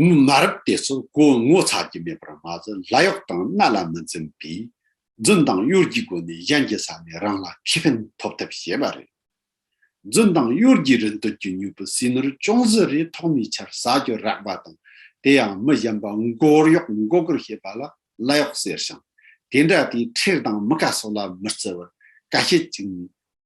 དངུལ་མ་རབས་དེ་ཚོ་སྒོ་ངོ་ཚ་རྒྱུ་མེད་པར་མ་ཟད་ལ་གཡོག་དང་མནའ་ལ་མི་འཛེམ་པས་རྫུན་དང་གཡོ་སྒྱུའི་སྒོ་ནས་གཞན་གྱི་ས་ནས་རང་ལ་ཁེ་ཕན་ཐོབ་ཐབས་བྱེད་པ་རེད། རྫུན་དང་གཡོ་སྒྱུའི་རིན་དོད་ཀྱི་མྱུ་གུ་ཟིལ་ནོར་ཅུང་ཟད་རེ་ཐོག་མའི་ཆར་ཟ་རྒྱུ་རག་པ་དང་དེ་ཡང་མི་གཞན་པ་མགོར་གཡོག་མགོ་སྒུར་བྱེད་པ་ལ་ལ་གཡོག་ཟེར་ཞིང་དེ་འདྲ་དེའི་ཁྲེལ་དང་མི་དགའ་སོགས་ལ་མི་བརྩི་བར་དཀའ་སྤྱད་ཅིག་ནས་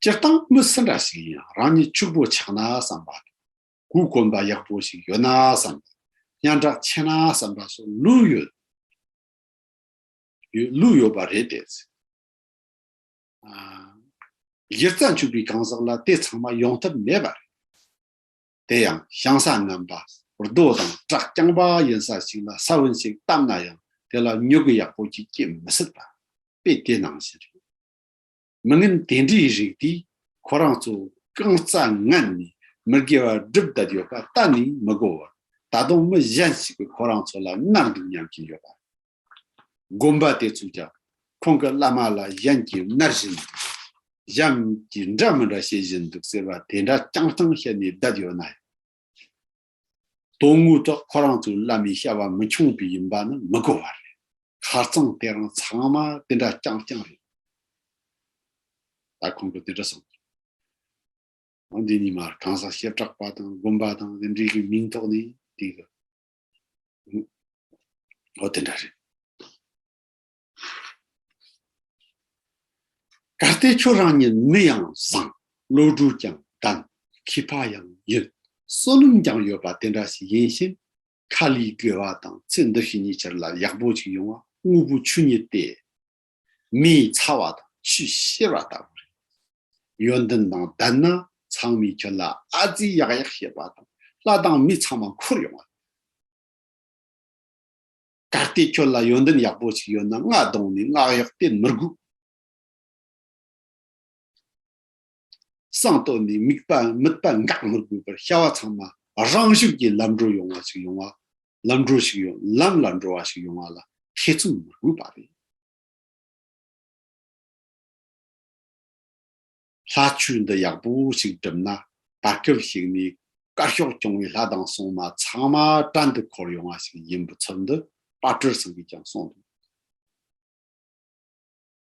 སྤྱིར་བཏང་མི་སུ་འདྲ་ཞིག་ཡིན་ཡང་རང་ཉིད་ཕྱུག་པོ་ཆགས་ན་བསམ་པ་དང། གུས་བཀོན་པ་ཡག་པོ་ཞིག་ཡོད་ན་བསམ་པ། སྙན་གྲགས་ཆེ་ན་བསམ་པ་སོགས་ལུས་ཡོད་ལུས་ཡོད་པ་རེད་དེ། གཞི་རྩ་འཕྱུག་པའི་གང་ཟག་ལ་དེ་ཚང་མ་ཡོང་ཐབས་མེད་པ་རེད། དེ་ཡང་བཤང་ས་རྣམ་པ་རྡོ་དང་བཀྲག་རྐྱང་པ་ཡིན་ས་ཞིག་ལ་ས་བོན་ཞིག་བཏབ་ན་ཡང་དེ་ལ་མྱུ་གུ་ཡག་པོ་ཞིག་སྐྱེ་མི་སྲིད་པ་དཔེ་དེ་ནང་བཞིན་རེད། མི་ངན་དེ་འདྲའི་རིགས་དེས་ཁོ་རང་ཚོ་རྐང་རྩ་ངན་ནས་མི་དགེ་བ་སྒྲུབ་བསྡད་ཡོད་པ་གཏན་ནས་མི་གོ་བར་ད་དུང་མི་གཞན་ཞིག་གིས་ཁོ་རང་ཚོ་ལ་མནར་འདུག་སྙམ་གྱིན་ཡོད་པ་རེད། བསྒོམ་པ་དེ་ཚོས་ཀྱང་ཁོང་གི་བླ་མ་ལ་གཞན་གྱིས་མནར་བཞིན་འདུག་གཞན་གྱིས་འདྲ་མི་འདྲ་བྱེད་བཞིན་འདུག་ཟེར་བ་དེ་འདྲ་རྐྱང་རྐྱང་བཤད་ནས་བསྡད་ཡོད་ན་ཡང། དོན་དངོས་ཐོག་ཁོ་རང་ཚོའི་བླ་མའི་བྱ་བ་མི་འཁྱོངས་པས་ཡིན་པ་ནི་མི་གོ་བ་རེད། ཁ་རྩང་དེ་རང་ཚང་མ་དེ་འདྲ་རྐྱང་རྐྱང་རེད། ད་ཁོང་གིས་དེ་འདྲ་གསུངས་སོང། འདི་གཉིས་མར་གང་ཟག་བྱེ་བྲག་པ་དང་བསྒོམ་པ་དང་རིམ་གྲས་ཀྱི་མིང་ཐོག་ནས་དེ་གི། ཨོ་དེ་འདྲ་རེད། ད་ལྟའི་ཁྱོད་རང་ཉིད་མི་ཡང་བཟང། བློ་གྲོས་ཀྱང་ལྡན། ཁྱི་ཕག་ཡང་ཡིན། བསོད་ནམས་ཀྱང་ཡོད་པ་དེ་འདྲ་ཞིག་ཡིན་གཤིས། ཁ་ལིའི་དགེ་བ་དང་ཚེ་འདི་ཤི་གཉིས་ཆར་ལ་ཡག་པོ་ཞིག་ཡོང་བ་དངོས་པོ་ཆོས་ཉིད་དེ། མི་ཡི་ཚ་བ་དང་ཆུའི་གཤེར་བ་ལྟ་བུ་རེད། ཡོན་ཏན་དང་ལྡན་ན་ཚང་མས་ཁྱོད་ལ་ཨ་ཙི་ཡག་ཡག་བཤད་པ་དང་ལྷ་དང་མི་ཚང་མ་འཁོར་ཡོང་བ་རེད། ད་ལྟའི་ཁྱོད་ལ་ཡོན་ཏན་ཡག་པོ་ཞིག་ཡོད་ན་རྔ་གདོང་ནས་སྔགས་ཡག་སྟེ་མི་སྒུག། གསང་བརྟོལ་ནས་དམིགས་པ་དམིགས་པ་འགག་མི་དགོས་པར་བྱ་བ་ཚང་མ་རང་ཤུགས་ཀྱིས་ལམ་འགྲོ་ཡོང་བ་ཞིག་ཡོང་བ་ལམ་འགྲོ་ཞིག་ཡོང་ལམ་ལ་འགྲོ་བ་ཞིག་ཡོང་བ་ལ་ཐེ་ཚོམ་མི་དགོས་པ་རེད། ལྷ་ཆོས་འདི་ཡག་པོ་ཞིག་བསྒྲུབ་ན་བར་སྐལ་ཞིག་ནས་དཀར་ཕྱོགས་སྐྱོང་བའི་ལྷ་དང་སྲུང་མ་ཚང་མ་བྲན་དུ་འཁོར་ཡོང་བ་ཞིག་ཡིན་པའི་ཚུལ་འདི་དཔའ་གྲོལ་སེང་གེས་ཀྱང་གསུངས་འདུག།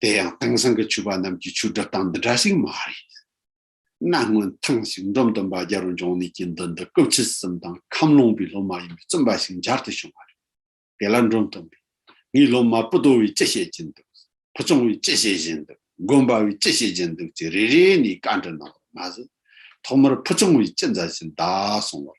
དེ་ཡང་དེང་སང་གི་ཆོས་པ་རྣམས་ཀྱི་ཆོས་སྒྲུབ་སྟངས་འདི་འདྲ་ཞིག་མ་རེད། གནའ་སྔོན་ཐེངས་ཤིག་མདོ་བསྟན་པ་རྒྱལ་རོང་འབྱུང་གནས་ཀྱི་འདུལ་འདི་སྐབས་ཆིག་གསུམ་དང་ཁམས་ལུང་པའི་སློབ་མ་ཡིན་པའི་བཙུན་པ་ཞིག་འཇར་དུ་བྱུང་བ་རེད། དེ་ལ་མགྲོན་བཏོན་པས། ངའི་སློབ་མ་པུ་ཏོ་བས་ཅི་བཤད་ཀྱིན་འདུག། ཕུ་ཆུང་བས་ཅི་བཤད་བཞིན་འདུག་དགོན་པ་བས་ཅི་བཤད་ཀྱིན་འདུག་ཅེས་རེ་རེ་ནས་བཀའ་འདྲི་གནང་བར་མ་ཟད། ཐོག་མར་ཕུ་ཆུང་བས་ཅི་མཛད་བཞིན་གདའ་གསུང་བར།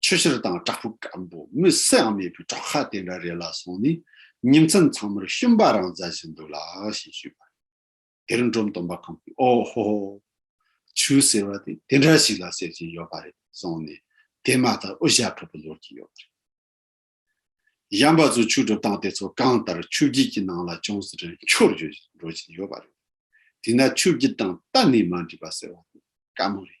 ཆུ་ཕྱིར་དང་བྲག་ཕུག་སྐམ་པོ་མི་སེའང་མེད་པའི་བྲག་ཁ་དེ་འདྲ་རེ་ལ་སོང་ནས་ཉིན་མཚན་ཚང་མར་ཤུན་པ་རང་བཟའ་བཞིན་འདུག་ལ་ཞེས་ཞུས་པར། དེར་འབྲོམ་སྟོན་པ་གང་གིས་ཨོ་ཧོ་ཧོ། ཆུ་ཟེར་བ་དེ་དེ་འདྲ་ཞིག་ལ་ཟེར་གྱིན་ཡོད་པ་རེད་གསུངས་ནས་དེ་མ་ཐག་དབུ་ཞྭ་ཕུད་པར་ལོག་གིན་ཡོད་པ་རེད། གཞན་པ་ཚོས་ཆུ་སྒྲུབ་སྟངས་དེ་ཚོ་གང་ལྟར་ཆུ་བརྒྱུད་ཀྱི་ནང་ལ་ཅུང་ཟད་འཁྱོར་འགྱུར་བཞིན་འགྲོ་བཞིན་ཡོད་པ་རེད། དེས་ན་ཆུ་བརྒྱུད་སྟངས་གཏན་ནས་མ་འགྲིག་པ་ཟེར་བ་དེ་དཀའ་མོ་རེད།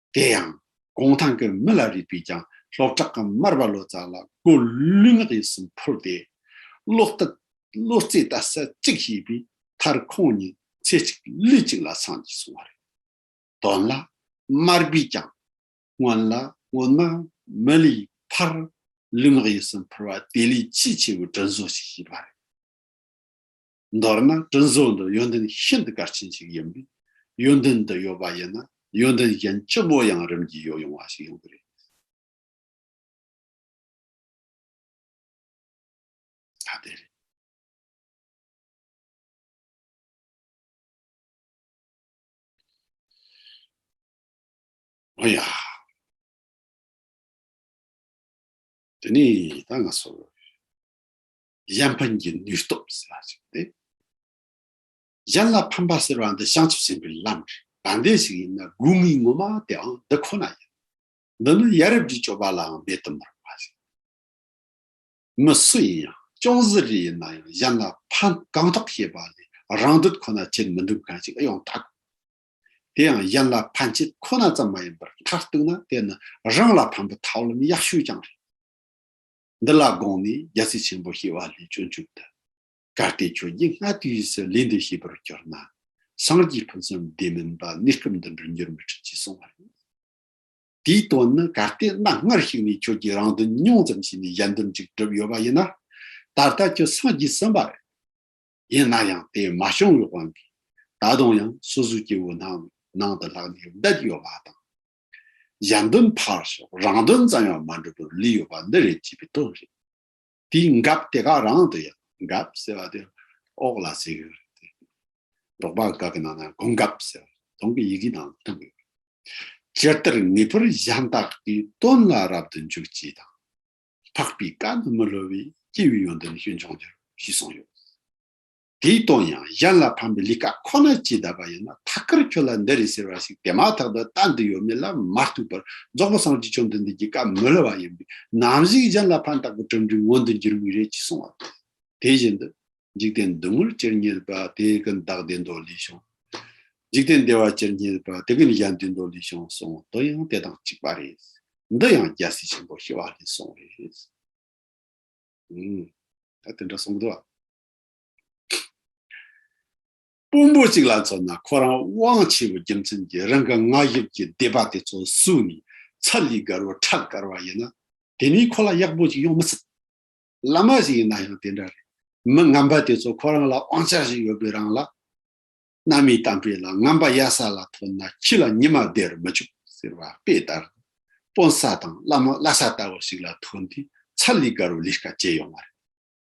དེ་ཡང་གུང་ཐང་གི་མི་ལ་རིགས་པས་ཀྱང་སློབ་གྲགས་ཀྱི་མར་པ་ལོ་ཙཱ་ལ་སྒོ་ལུས་ངག་ཡིད་གསུམ་འཕུར་ཏེ། བློ་རྩེ་ལྟ་ས་གཅིག་ཤེས་པའི་མཐར་ཁོང་གཉིས་ཚེ་གཅིག་ལུས་གཅིག་ལ་སངས་ཀྱིས་སོང་བ་རེད། དོན་ལ་མར་པས་ཀྱང་སྔོན་ལ་སྔོན་མ་མི་ལའི་ཕར་ལུས་ངག་ཡིད་གསུམ་འཕུར་བ་དེ་ལས་ཆེས་ཆེ་བའི་དྲིན་བཟོ་ཞིག་བྱས་པ་རེད། མདོར་ན་དྲིན་གཟོ་འདི་ཡོན་ཏན་ཤིན་ཏུ་གལ་ཆེན་ཞིག་ཡིན་པས་ཡོན་ཏན་འདི་ཡོད་པ་ཡིན་ན་ཡོན་ཏན་གཞན་ལྕི་མོ་ཡང་རིམ་གྱིས་ཡོ་ཡོང་བ་ཞིག་ཡོང་གི་རེད། ད་དེ་རེད། ཨ་ཡ། དེ་ནས་ད་ང་སོ། གཞན་ཕན་གྱི་ནུས་སྟོབས་ཟེར་བ་ཞིག་སྟེ། གཞན་ལ་ཕན་པ་ཟེར་བ་འདི་བྱང་ཆུབ་སེམས་དཔའི་ལམ་རེད། དྲང་བདེན་ཞིག་ཡིན་ན་དགོས་ངེས་ངོ་མ་དེའང་འདི་ཁོ་ན་ཡིན། འདི་ནི་ཡ་རབས་ཀྱི་སྤྱོད་པ་ལའང་མེད་དུ་མི་རུང་བ་ཞིག་རེད། མི་སུ་ཡིན་ཡང་ཅུང་གཟི་རིས་ཡིན་ན་ཡང་གཞན་ལ་ཕན་གང་ཐོག་བྱེད་པ་ལས་རང་འདོད་ཁོ་ན་བྱེད་མི་འདོད་མཁན་ཞིག་ཡང་དག་གོ། དེ་ཡང་གཞན་ལ་ཕན་ཆེད་ཁོ་ན་ཙམ་མ་ཡིན་པར་མཐར་གཏུགས་ན་དེ་ནི་རང་ལ་ཕན་པའི་ཐབས་ལམ་ཡག་ཤོས་ཀྱང་རེད། འདི་ལ་དགོངས་ནས་རྒྱལ་སྲིད་ཆེན་པོ་ཞེས་བ་ལས་སྤྱོད་འཇུག་ཏུ། གལ་ཏེ་ཁྱོད་ཀྱིས་སྔ་དུས་སུ་ལས་འདི་ཤེས་པར་གྱུར་ན། སངས་རྒྱས་ཕུན་སུམ་བདེ་མིན་པ་གནས་སྐབས་འདི་འདྲར་འགྱུར་མི་སྲིད་ཅེས་གསུངས་པ་རེད། དེའི་དོན་ནི་གལ་ཏེ་གནའ་སྔར་ཞིག་ནས་ཁྱོད་ཀྱིས་རང་དོན་ཉུང་ཙམ་བྱས་ནས་གཞན་དོན་གཅིག་བསྒྲུབས་ཡོད་པ་ཡིན་ན། ད་ལྟ་ཁྱོད་སངས་རྒྱས་ཟིན་པ་རེད། ཡིན་ན་ཡང་དེ་མ་བྱུང་བའི་དབང་གིས་ད་དུང་ཡང་སོ་སོའི་སྐྱེ་བོའི་སྣང་བའི་ནང་དུ་ལྷག་ནས་བསྡད་ཡོད་པ་དང། གཞན་དོན་ཕར་ཞོག་རང་དོན་ཙམ་ཡང་མ་འགྲུབ་པར་ལུས་ཡོད་པ་འདི་རེད་ཅེས་པའི་དོན་རེད། དེའི་འགབ་དེ་ག་རང་དུ་ཡོད། འགབ་ཟེར་བ་དེ་ཨོག་ལ་ཟེར་ཡོད་རེད་དེ། འབྲོག་པ་འགའ་གི་ནང་ན་གོང་འགབ་ཟེར་བ་དོང་གི་ཡི་གེའི་ནང་དུ་བཏོན་ཡོད་རེད། སྤྱིར་ལྟར་ངེས་པར་གཞན་དག་གི་དོན་ལ་རབ་ཏུ་འཇུག་ཅེས་དང། འཕགས་པའི་བཀའ་ནི་མི་སླུ་བས་སྐྱེས་བུའི་ཡོན་ཏན་ཤེས་འབྱུང་འགྱུར་ཞེས་གསུངས་ཡོད། དེའི་སྟོང་ཡང་གཞན་ལ་ཕམ་པའི་ལི་ཀ་ཁོ་ན་ཅི་ད་པ་ཡིན་ན་ཐ་ཀར་ཁྱོད་ལ་འདི་རེད་ཟེར་བ་ཞིག་དེ་མ་ཐག་ཏུ་ལྟ་འདི་ཡོད་མེད་ལ་མ་གཏུགས་པར་རྫོགས་པ་སངས་ཀྱིས་ཁྱོད་འདི་འདི་ཀྱི་སྐབས་མི་ལ་བ་ཡིན་པས་ནམ་ཞིག་གཞན་ལ་ཕན་བཏགས་པའི་གྲུབ་འབྲས་མངོན་དུ་འགྱུར་ངེས་རེད་ཅེས་གསུངས་བ་དང། དེ་བཞིན་དུ། འཇིག་རྟེན་བདུད་མོར་སྤྱིར་བསྙད་པ་དེ་ཀུན་བདག་བདེ་མདོ་ལས་བྱུང། འཇིག་རྟེན་བདེ་བར་སྤྱིར་བསྙད་པ་དེ་ཀུན་གཞན་བདེ་མདོ་ལས་བྱུང་གསུངས་དོན་ཡང་དེ་དང་གཅིག་པ་རེད། འདི་ཡང་རྒྱལ་སྲས་ཆེན་པོ་ཞི་བ་ལྷས་གསུངས་རེད། ད་དེ་འདྲ་གསུངས་གི་འདུག་བ། དཔོན་པོ་གཅིག་ལ་མཚོན་ན་ཁོ་རང་དབང་ཆེ་བའི་རྒྱུ་མཚན་གྱིས་རང་གི་མངའ་ཞབས་ཀྱི་སྡེ་པ་དེ་ཚོ་བསུས་ནས་ཚ་ལུས་དགར་བ་ཁྲག་དགར་བ་ཡིན་ན་དེ་མིན་ཁོ་ལ་ཡག་པོ་ཅིག་ཡོང་མི་སྲིད། བླ་མ་ཞིག་ཡིན་ན་ཡང་དེ་འདྲ་རེད། མི་ངན་པ་དེ་ཚོ་ཁོ་རང་ལ་དབང་ཆ་ཞིག་ཡོད་པའི་རང་ལ། གནའ་མིའི་གཏམ་དཔེ་ལ་ངན་པ་གཡའ་ས་ལ་ཐོན་ན་ཁྱི་ལ་ཉི་མ་བདེ་རུ་མི་བཅུག་ཟེར་བ་དཔེ་ལྟར། དཔོན་ས་དང་བླ་མ་གླ་ས་ལྟ་བུ་ཞིག་ལ་ཐོན་དུས་ཚ་ལུས་དགར་བའི་ལས་ཀ་བྱེད་ཡོང་བ་རེད།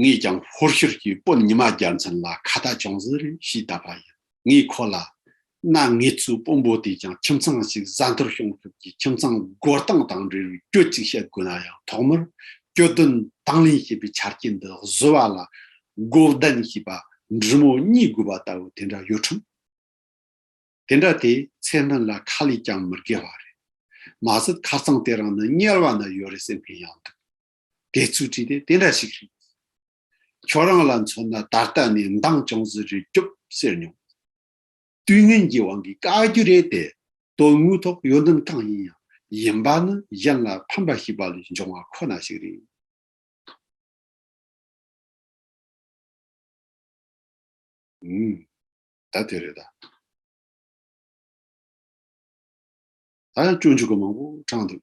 ངས་ཀྱང་ཧོར་ཤུར་གྱི་དཔོན་ཉི་མ་རྒྱལ་མཚན་ལ་ཁ་བརྡ་ཅུང་ཟད་རེ་ཞུས་བལྟ་བ་ཡིན། ངས་ཁོ་ལ། ན་ངེད་ཚོའི་དཔོན་པོ་དེས་ཀྱང་ཁྱིམ་ཚང་ཞིག་བཟའ་འཐོར་གཤོང་ཐུབ་ཀྱི་ཁྱིམ་ཚང་བགོ་སྟངས་དང་འབྲེལ་བའི་སྐྱོ་གཅིག་བཤད་དགོས་ན་ཡང་ཐོག་མར་སྐྱོ་དོན་དང་ལེན་བྱེད་པའི་ཆ་རྐྱེན་འདི་བཟོ་བ་ལ་བགོ་བདན་བྱས་པ་འབྲི་མོ་གཉིས་དགོས་པ་ལྟ་བུ་དེ་འདྲ་ཡོད་ཁྲོམ། དེ་འདྲ་དེས་ཚེ་སྨད་ལ་ཁ་ལས་ཀྱང་མི་བརྒལ་བ་རེད། མ་ཟད་ཁ་རྩང་དེ་རང་ནི་དམྱལ་བ་ན་ཡོད་རེད་སེམས་ཕན་ཡང་འདུག། དེ་ཚུལ་བྲིས་ཏེ་དེ་འདྲ་ཞིག་རེད། ཁྱོད་རང་ལ་མཚོན་ན་ད་ལྟ་ནས་མདངས་ཅུང་ཟད་རེ་རྒྱོབ་ཟེར་མྱོང། དུས་ངན་གྱི་དབང་གིས་དཀའ་རྒྱུ་རེད་དེ། དོན་དངོས་ཐོག་ཡོན་ཏན་གང་ཡིན་ཡང་ཡིན་པ་ནི་གཞན་ལ་ཕན་པ་ཞིག་པ་ལས་འབྱུང་བ་ཁོ་ན་ཞིག་རེད། ཨུམ། ད་དེ་རེད་ད། ད་ཡང་སྐྱོན་ཅུང་གུ་མང་པོ་དྲངས་འདུག།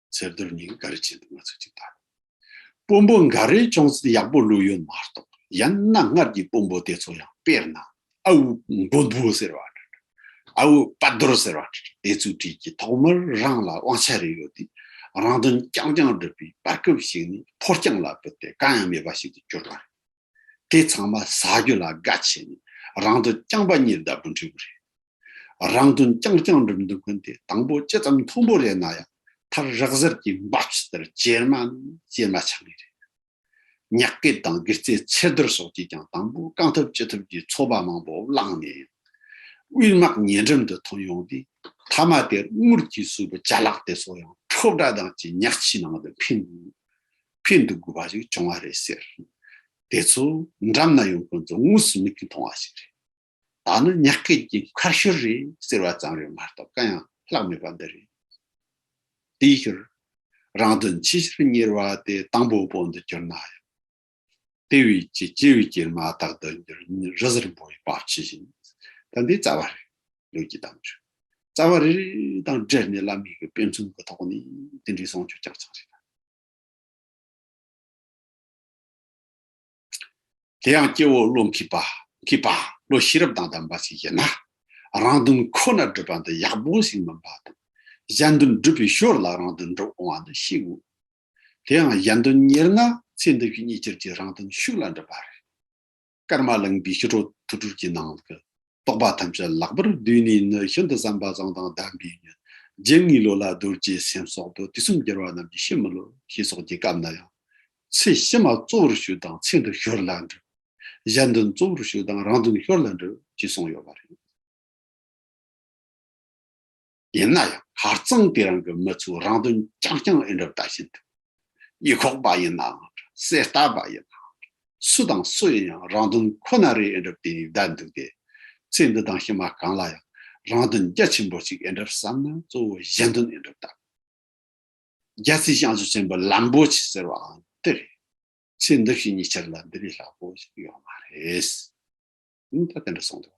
ཚེར་རྡོར་ཉིན་འགའ་རེ་བྱེད་འདུག་ང་ཚོས་ཅིག་ལྟ་དགོས། དཔོན་པོ་འགའ་རེས་ཅུང་ཟད་ཡག་པོ་ལུས་ཡོད་མ་གཏོགས་ཡང་ན་སྔར་གྱི་དཔོན་པོ་དེ་ཚོ་ཡང་དཔེར་ན་ཨ་བུ་མགོན་པོ་ཟེར་བ་འདྲ་འདྲ། ཨ་བུ་དཔའ་རྡོར་ཟེར་བ་འདྲ་འདྲ་དེ་ཚོའི་གྲས་ཀྱིས་ཐོག་མར་རང་ལ་དབང་ཆ་རེ་ཡོད་དུས་རང་དོན་རྐྱང་རྐྱང་བསྒྲུབས་པའི་བར་སྐབས་ཤིག་ནས་ཕོ་རྐྱང་ལ་བུད་དེ་གང་ཡང་མེད་པ་ཞིག་ཏུ་གྱུར་པ་རེད། དེ་ཚང་མ་ཟ་རྒྱུ་ལ་དགའ་ཆེ་ནས་རང་དོན་རྐྱང་པ་གཉིས་ལྡབ་འགྲིག་པོ་རེད། རང་དོན་རྐྱང་རྐྱང་སྒྲུབ་འདུག་མཁན་དེ་དང་པོ་ཇི་ཙམ་མཐོན་པོ་རེད་ན་ཡང་མཐར་རགས་གཟར་གྱི་འབའ་ཕྱི་ལྟར་ཇེ་དམའ་ནས་ཇེ་དམའ་ཆགས་ངེས་རེད། ཉག་སྐད་དང་སྒིར་རྩེ་ཚེར་རྡོར་སོགས་ཀྱིས་ཀྱང་དང་པོ་བསྐང་ཐབས་ཅི་ཐུབ་ཀྱིས་ཚོགས་པ་མང་པོ་བསླངས་ནས་ཡང། དབུས་དམག་ཉེ་འགྲམ་དུ་ཐོན་ཡོང་སྟེ་མཐའ་མ་དེར་དངུལ་གྱིས་བསུས་པའི་བྱ་གླག་དེ་ཚོ་ཡང་ཁྲོག་སྒྲ་དང་བཅས་ཉག་ཆུའི་ནང་དུ་འཕེན་འདུག་ཕན་འདོགས་དགོས་པ་ཞིག་བྱུང་བ་རེད་ཟེར། དེ་ཚོ་འགྲམ་ན་ཡོང་མཁན་ཚོ་དངོས་སུ་མིག་གིས་མཐོང་བ་ཞིག་རེད། ད་ནི་ཉག་སྐད་ཀྱི་མཁར་ཤུལ་རེད་ཟེར་བ་ཙམ་རེད་མ་གཏོགས་གང་ཡང་བརླག་མེད་པ་འདི་རེད། དེའི་ཕྱིར། རང་དོན་ཆེ་ཕྱིར་གཉེར་བ་དེ་དང་པོ་པོ་འདི་གྱུར་ན་ཡང། དེ་བས་ཀྱི་སྐྱེས་བུའི་སྐྱེལ་མ་དག་འདི་འགྱུར་ཉིན་རི་གཟར་འབོར་བའི་བབ་ཆེ་བཞིན། ད་འདི་རྩ་བ་རེད་ལུགས་ཀྱི་གཏམ་རེད། རྩ་བ་རེ་རེ་དང་སྦྲེལ་ནས་བླ་མེད་ཀྱི་དཔེ་མཚོན་གྱི་ཐོག་ནས་དེ་འདྲའི་གསུང་ཆོས་རྐྱང་རྐྱང་རེ་དང། དེ་ཡང་སྐྱེ་བོ་བློ་འཁྱིལ་པ། འཁྱིལ་པ། བློ་ཤེས་རབ་དང་ལྡན་པ་ཞིག་ཡིན་ན། རང་དོན་ཁོ་ནར་སྒྲུབ་པ་འདི་ཡག་པོ་ཞིག་མིན་པ་དང། གཞན་དོན་སྒྲུབ་པའི་ཞོར་ལ་རང་དོན་འགྲུབ་འོང་བ་འདི་ཤེས་དགོས། དེའང་གཞན་དོན་གཉེར་ན་ཚེ་འདི་བཞིན་གཉིས་སྤྱིར་གྱི་རང་དོན་ཤུགས་ལ་འགྲུབ་པ་རེད། སྐར་མ་གླིང་པའི་ཞི་ཁྲོ་ཐུགས་སྒྲུབ་ཀྱི་ནང་གི་རྟོགས་པ་ཐམས་ཅད་ལག་པར་བསྡུས་ནས་ནི་ཤིན་ཏུ་བསམ་པ་བཟང་དང་ལྡན་པས་ནི་རྗེ་ངེས་ལོ་ལ་རྡོ་རྗེ་སེམས་སོགས་དུ་དུས་གསུམ་རྒྱལ་བ་རྣམས་ཀྱི་ཕྱི་མི་ལོ་ཞེས་སོགས་ཀྱི་སྐབས་ན་ཡང། ཚེས་ཕྱི་མ་གཙོ་བོར་ཞུ་དང་ཚེས་འདུན་ཞོར་ལ་འགྲུབ། གཞན་འདུན་གཙོ་བོར་ཞུ་དང་རང་འདུན་ཞོར་ལ་འགྲུབ་ཅེས་གསུངས་ཡོད་པ་རེད། ཡིན་ན་ཡང་ཧ་ཙང་དེ་རང་གི་མི་ཚོའི་རང་དོན་རྐྱང་རྐྱང་ཨེ་འགྲུབ་ད་བཞིན་དུ། ཡིག་ཁོག་པ་ཡིན་ནའང་འདྲ་གསེར་རྟ་པ་ཡིན་ནའང་འདྲ་སུ་དང་སུ་ཡིན་ཡང་རང་དོན་ཁོ་ན་རེད་ཨེ་འགྲུབ་དེ་ཡིན་བསྡད་འདུག་སྟེ། ཚེ་འདི་དང་ཕྱི་མ་གང་ལ་ཡང་རང་དོན་རྒྱ་ཆེན་པོ་གཅིག་ཨེ་འགྲུབ་བསམ་ན་གཙོ་བོ་གཞན་དོན་ཨེ་འགྲུབ་ད། རྒྱལ་སྲིད་བྱང་ཆུབ་ཆེན་པོའི་ལམ་པོ་ཆེ་ཟེར་བའང་དེ་རེད། ཚེ་འདི་བཞིན་ཉི་ཆར་ལ་འདི་ལས་ལྷག་པོ་ཞིག་ཡོད་མ་རེད། ད་དེ་འདྲ་གསུངས་འདུག།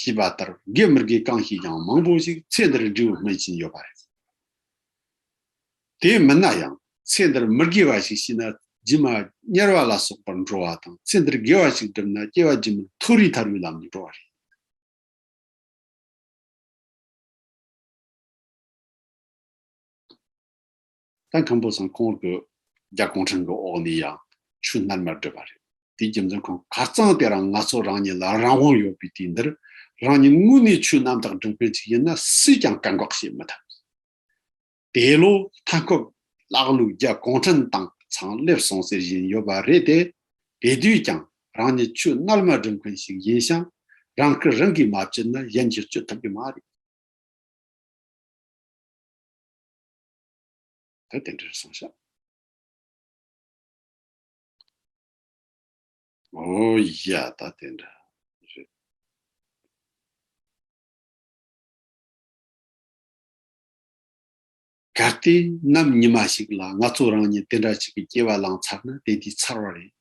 ཞེས་པ་ལྟར་དགེ་མི་དགེ་གང་ཞིག་ཀྱང་མང་པོ་ཞིག་ཚེ་འདིར་འབྲས་བུ་སྨིན་བཞིན་ཡོད་པ་རེད། དེ་མིན་ན་ཡང་ཚེ་འདིར་མི་དགེ་བ་ཞིག་ཤི་ན་རྗེས་མ་དམྱལ་བ་ལ་སོགས་པར་འགྲོ་བ་དང་ཚེ་འདིར་དགེ་བ་ཞིག་བསྒྲུབས་ན་སྐྱེ་བ་རྗེས་མར་མཐོ་རིས་ཐར་བའི་ལམ་དུ་འགྲོ་བ་རེད། ད་ཁམ་བུ་ཟངས་ཁོང་གི་རྒྱ་གོང་ཁྲན་གི་འོག་ནས་ཡང་ཆུ་སྣར་མར་སྦྲེལ་བ་རེད། དེའི་རྒྱུ་མཚན་ཁོང་གར་གཙང་དེ་རང་ང་ཚོ་རང་ཉིད་ལ་རང་དབང་ཡོད་པའི་དུས་འདིར་རང་ཉིད་དངོས་གནས་ཆུ་གནམ་དག་སྒྲིག་མཁན་ཅིག་ཡིན་ན་སུས་ཀྱང་བཀག་འགོག་བྱེད་མི་ཐུབ། དེ་ལོ་མཐའ་འཁོབ་ཀླག་ལུག་རྒྱ་གོང་ཁྲན་ཏང་ཚང་སླེབས་སོང་ཟེར་བཞིན་ཡོད་པ་རེད་དེ། དེ་དུས་ཀྱང་རང་ཉིད་ཆུ་སྣར་མར་སྒྲིག་མཁན་ཞིག་ཡིན་ཞིང་རང་སྐུ་རང་གིས་མ་བསྐྱུར་ན་གཞན་གྱིས་བསྐྱུར་ཐུབ་ཀྱི་མ་རེད། ད་དེ་འདྲར་སོང་ཤག། ཨོ་ཡ་ད་དེ་འདྲ། གལ་ཏེ་ནམ་ཉི་མ་ཞིག་ལ་ང་ཚོ་རང་ཉིད་དེ་འདྲ་ཞིག་གི་སྐྱེ་བ་བླངས་ཚར་ན་དེ་དུས་ཚར་བ་རེད།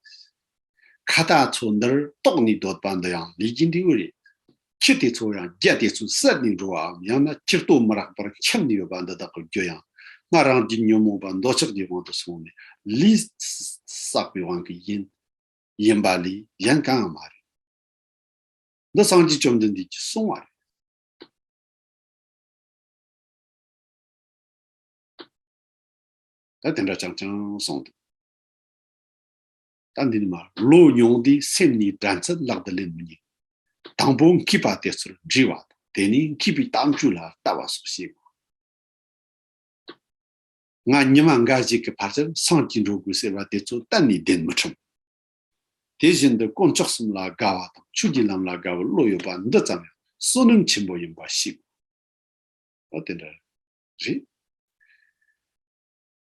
ཁ་བཏགས་ཚོ་འདིར་གཏོགས་ནས་སྡོད་པ་འདི་ཡང་ལས་ཀྱི་འབྲས་བུ་རེད། ཁྱི་དེ་ཚོ་ཡང་རྒྱ་དེ་ཚོའི་སར་ནས་འགྲོ་བའམ་ཡང་ན་ཁྱི་ལྟོ་མི་རག་པར་འཁྱམས་ནས་ཡོད་པ་འདི་དག་གི་རྒྱུ་ཡང་སྔར་རང་རྒྱུད་ཉོན་མོངས་པ་འདོད་ཆགས་ཀྱི་དབང་དུ་སོང་ནས་ལུས་བསགས་པའི་དབང་གིས་ཡིན། ཡིན་པ་ལས་གཞན་གང་ཡང་མ་རེད། འདི་སངས་རྒྱས་བཅོམ་ལྡན་འདས་ཀྱིས་གསུང་བ་རེད། ད་དེ་འདྲ་ཅང་ཅང་གསུངས་འདུག། ད་འདི་ནི་མ་ལོས་མྱོང་དུས་སེམས་ནི་སྒྲ་མཚལ་བརླག་ཏུ་སླེབས་མི་ཉན། དང་པོ་མཁས་པ་དེ་ཚོར་འདྲི་བ་དང་དེ་ནས་མཁས་པའི་གཏམ་རྒྱུད་ལ་ལྟ་བ་སོགས་བྱེད་དགོས། ང་ཉི་མ་འགའ་ཞིག་གི་བར་ཆར་སངས་ཀྱིས་འགྲོ་དགོས་ཟེར་བ་དེ་ཚོ་གཏན་ནས་བདེན་མི་ཕྲམ། དེ་བཞིན་དུ་དཀོན་མཆོག་གསུམ་ལ་དགའ་བ་དང་ཆོས་ཀྱི་ལམ་ལ་དགའ་བའི་བློ་ཡོད་པ་འདི་ཙམ་ཡང་བསོད་ནམས་ཆེན་པོ་ཡིན་པ་ཤེས་དགོས། འོ་དེ་འདྲ་རེད།